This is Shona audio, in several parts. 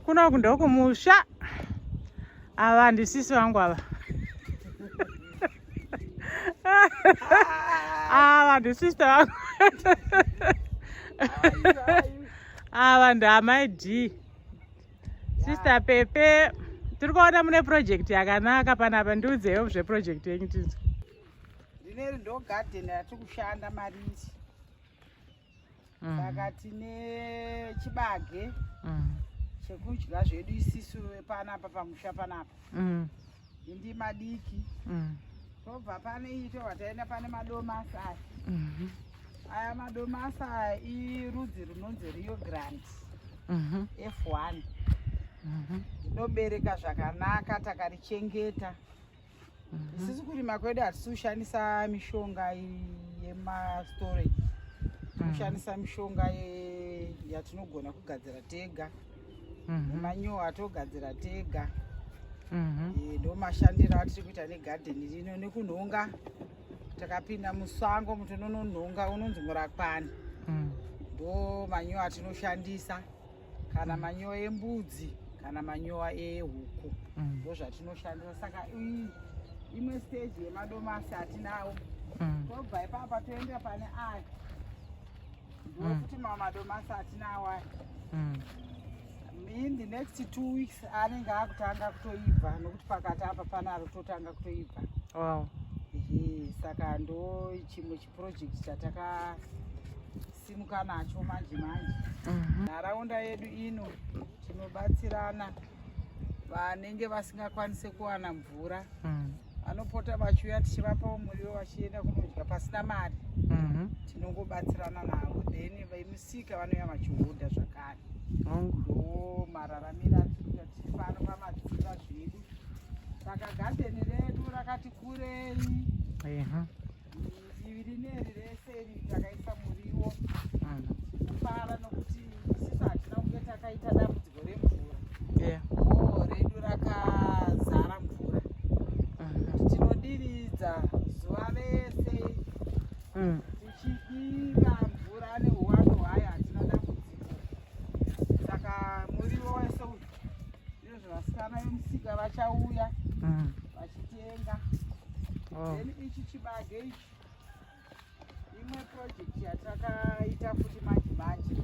Kuna uku ndokumusha. Ava ndisisi vangu ava. Ava ndisista vangu. Ava ndamai D. Sister Pepe. Tiri kuona mune project yakanaka panapa ndiudzeyo zveproject yenyu tinzwa. Ndineri ndo garden yatiri kushanda marisi. mm. saka tine chibage mm. chekudya zvedu isisu panapa pamusha panapa mm. indi madiki mm. tobva pane ito wataenda pane madomasi aya mm -hmm. aya madomasi aya irudzi runonzi rio grand mm -hmm. f1 mm -hmm. inobereka zvakanaka takarichengeta Mhm. sisi kurima kwedu hatisi kushandisa mishonga yemastorage mhm. kushandisa mishonga yatinogona kugadzira tega mhm. manyowa atogadzira tega eh, ndo mashandiro atiri kuita negadheni rino nekunhonga takapinda musango muti unononhonga unonzi murakwani ndo manyowa atinoshandisa kana manyowa embudzi kana manyowa ehuku mm. ndozvatinoshandisa saka imwe stage yemadomasi atinawo mm. tobva ipapa toenda pane aya ndokuti mm. mamwe madomasi atinawo aya in the next two weeks anenge akutanga kutoibva nokuti pakati apa panaro totanga kutoibva wow. saka ndo chimwe project chatakasimuka nacho manje manje mhm. nharaunda yedu ino tinobatsirana vanenge vasingakwanise kuwana mvura mm. vanopota vachiuya tichivapawo muriwo vachienda kunodya pasina mari mhm. tinongobatsirana navo then vemusika vanouya vachihodha zvakare ndo mararamiro atikuita tichifano pamadziva zvedu saka gadheni redu rakati kurei Divi rineri rese iri takaisa muriwo kufara nokuti sisi hatina kunge takaita dambudziko remvura oo redu rakazara mvura tinodiridza zuva rese mm. tichidira mvura neuwandu hwayo hatina dambudziko saka muriwo wese uyu Ndozvo vasikana vemusika vachauya mm. vachitenga. Oh. Then ichi chibage ichi imwe project yatakaita futi manje manje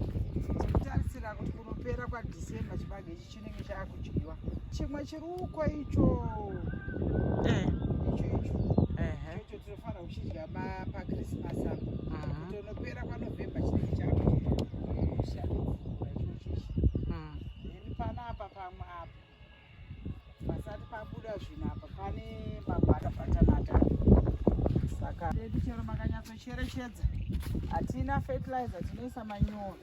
tikutarisira kuti kunopera kwadecember chibage ichi chinenge chaakudyiwa chimwe chiri uko icho eh. icho icho icho tinofanira kuchidya pachristmas apo kuti unopera kwanovember chinenge chaakudyiwa Panapa pamwe apa pasati pabuda zvinhu apa pane mabhara patanata saka edu chero makanyatsocherechedza hatina fertilizer tinoisa manyoro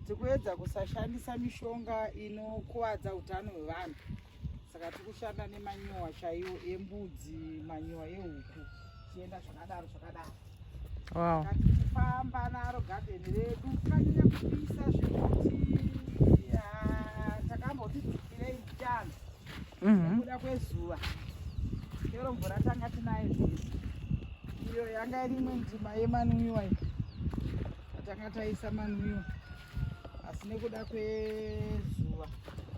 tikuedza kusashandisa mishonga inokuvadza utano hwevanhu saka tiri kushanda nemanyowa chaiwo embudzi manyowa ehuku tichienda zvakadaro zvakadaro wow. tichifamba naro gadheni redu kanyanya kupisa zvekuti takamboti dzikirei muchando mhm. nekuda kwezuva chero mvura tanga tinayo zvese iyo yanga iri imwe ndima yemanwiwa iyo tatanga taisa manwiwa asi nekuda kwezuva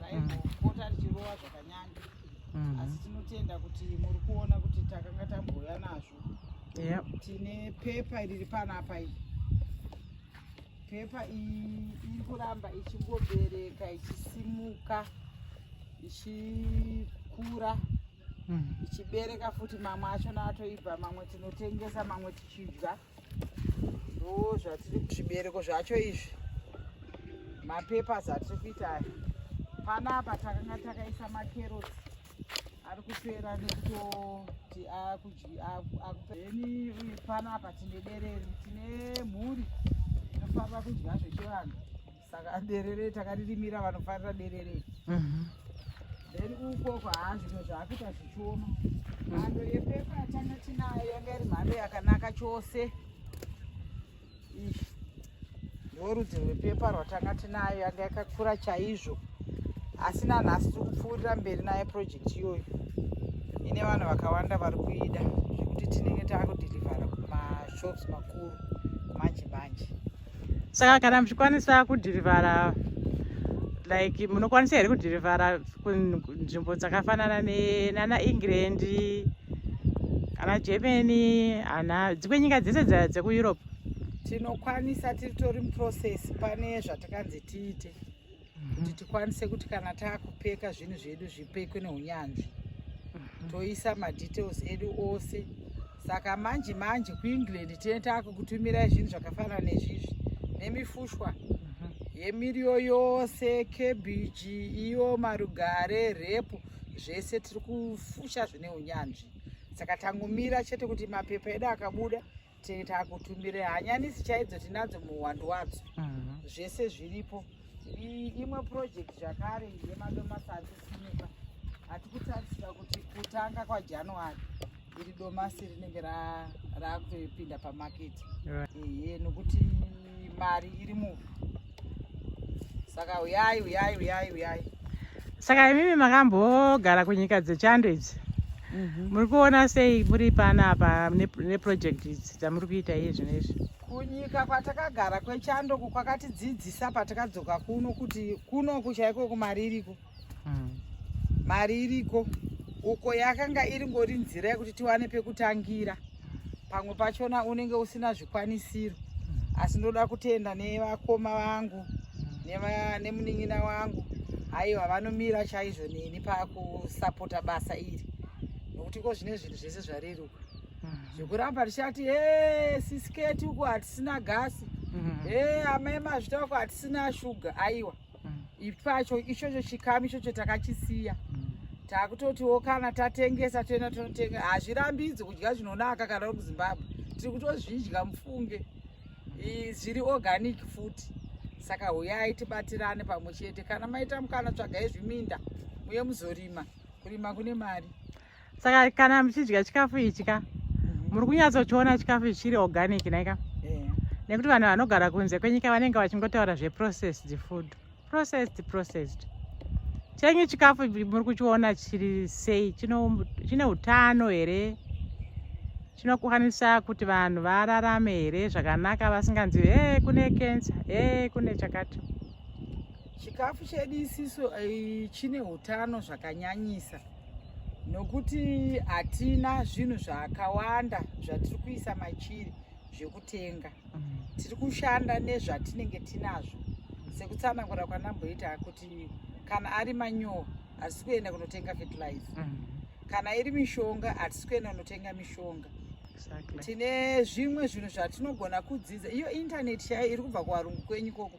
raizopota mhm. richirova zvakanyanya mm-hmm. asi tinotenda kuti muri kuona kuti takanga tabhuya nazvo yeah. tine pepa riri panapa iyi pepa iyi iri kuramba ichingobereka ichisimuka ichikura mm-hmm. ichibereka futi mamwe acho naatoibva mamwe tinotengesa mamwe tichidya ndoo zvatiri zvibereko zvacho izvi mapepers atiri kuita aya panapa takanga takaisa makerotsi ari kupera nekutoti akudyeni uye panapa tine dereri tine mhuri inofamba kudya zvechivanhu saka derere takaririmira vanofarira derere mhm. then ukoko haa zvimwe zvaakuita zvichioma mhando yepepa yatanga tinayo yanga iri mhando yakanaka chose ndorudzi rwepepa rwatanga tinayo yanga yakakura chaizvo asi nanhasi tiri kupfuurira mberi naye project iyoyo ine vanhu vakawanda vari kuida zvekuti tinenge taakudhirivhara kumashops makuru manje manje saka kana muchikwanisa kudhirivhara like munokwanisa here kudhirivhara kunzvimbo dzakafanana nana england ana germany ana dzimwe nyika dzese dzekueurope tinokwanisa tiritori muprocess pane zvatakanzi tiite kuti tikwanise kuti kana taakupeka zvinhu zvedu zvipekwe neunyanzvi mhm. toisa madetails edu ose saka manje manje kuengland tine taakukutumirai zvinhu zvakafanana nezvizvi nemifushwa mhm. yemiriyo yose kebiji iyo marugare repu zvese tiri kufusha zvine unyanzvi saka tangomira chete kuti mapepa edu akabuda takutumbire hanyanisi chaidzo tinadzo muhwando wadzo mhm. zvese zviripo imwe project zvakare yemadomasi atisimuka hati kutarisira kuti kutanga kwajanuary iri domasi rinenge rakutoipinda pamaketi ehe nokuti mari iri muvhu saka uyai uyai uyai uyai saka imimi makambogara kunyika dzechando idzi mhm. muri kuona sei muri pana apa neproject idzi dzamuri kuita iye zvino izvi kunyika kwatakagara kwechando kwakatidzidzisa patakadzoka kuno kuti kuno kuchaiko kumari iriko mm. mari iriko uko yakanga iri ngori nzira yekuti tiwane pekutangira pamwe pachona unenge usina zvikwanisiro mm. asi ndoda kutenda nevakoma vangu mm. nemunin'ina wangu aiwa vanomira chaizvo neni pakusapota basa iri nokuti ko zvine zvinhu zvese zvareruka mm-hmm. zvekuramba tichati e sisiketi uko hatisina gasi mm-hmm. e amai mazvita uko hatisina shuga aiwa ipacho ichocho chikamu ichocho takachisiya takutotiwo kana tatengesa toenda tonotenga hazvirambidzi kudya zvinonaka kana uri kuzimbabwe tiri kutozvidya mufunge zviri organic futi saka huyai tibatirane pamwe chete kana maita mukana tsvagai zviminda muye muzorima kurima kune mari saka kana muchidya chikafu ichi ka mhm. muri kunyatsochiona chikafu ichi chiri organic naika eh. nekuti vanhu vanogara kunze kwenyika vanenge vachingotaura zveprocessed food processed processed chenyu chikafu muri kuchiona chiri sei chine utano here chinokwanisa kuti vanhu vararame here zvakanaka vasinganzi e kune kensa e kune chakati chikafu chedu isiso eh, chine utano zvakanyanyisa nokuti hatina zvinhu zvakawanda zvatiri kuisa machiri zvekutenga tiri kushanda nezvatinenge tinazvo sekutsanangura kwanamboita kuti kana ari manyowa hatisi kuenda kunotenga fertilizer mm -hmm kana iri mishonga hatisi kuenda unotenga mishonga tine zvimwe zvinhu zvatinogona kudzidza iyo intaneti chaiyo iri kubva kuvarungu kwenyu koko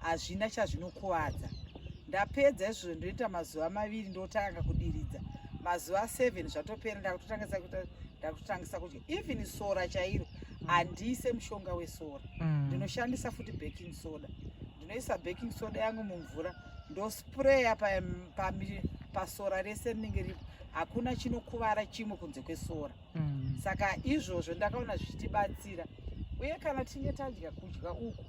hazvina chazvinokuvadza ndapedza izvozvo ndoita mazuva maviri ndotanga kudiridza mazuva 7 zvatopera ndakutotangisa kuita ndakutotangisa kudya even sora chairo handiise mushonga wesora mm. ndinoshandisa futi baking soda ndinoisa baking soda yangu mumvura ndospraya pasora rese rinenge ripo hakuna chinokuvara chimwe kunze kwesora mm. saka izvozvo ndakaona zvichitibatsira uye kana tinge tadya kudya uku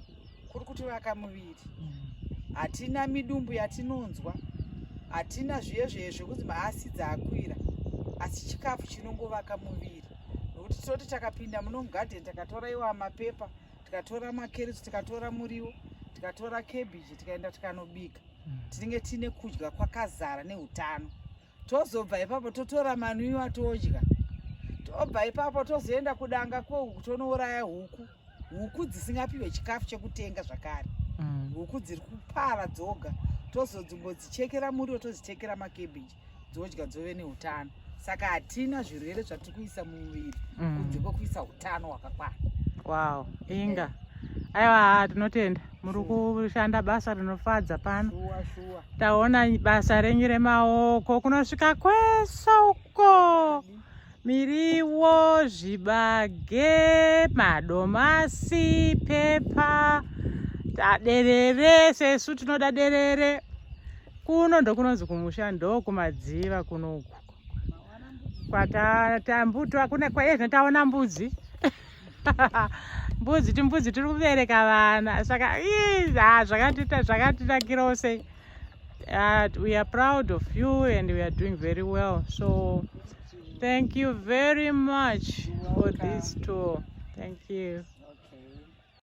kuri kutivaka muviri mm. hatina midumbu yatinonzwa hatina zviye zviye zvekunzi maasidzi akwira asi chikafu chinongovaka muviri nokuti tinoti takapinda muno mugadheni takatora iwa mapepa tikatora makerisi tikatora muriwo tikatora kebiji tikaenda tikanobika mm. tinenge tiine kudya kwakazara neutano tozobva ipapo totora manwiwa todya tobva ipapo tozoenda kudanga kwohuku tonouraya huku huku dzisingapiwe chikafu chekutenga zvakare mm. huku dziri kupara dzoga tozodzimbodzichekera muriwo tozichekera makebiji dzodya dzove neutano saka hatina zvirwere zvatiri kuisa mumuviri mm. kunze kwekuisa utano hwakakwana wow inga aiwa tinotenda muri kushanda basa rinofadza pano taona basa renyu remaoko kunosvika kwese uko miriwo zvibage madomasi pepa taderere sesu tinoda derere kuno ndokunonzi kumusha ndokumadziva kunoku kwatatambutwa kune kwaezvino taona mbudzi mbudzi timbudzi tiri kubereka vana saka ah, zvakatita zvakatinakirawo sei uh, we are proud of you and we are doing very well so thank you very much for this tour thank you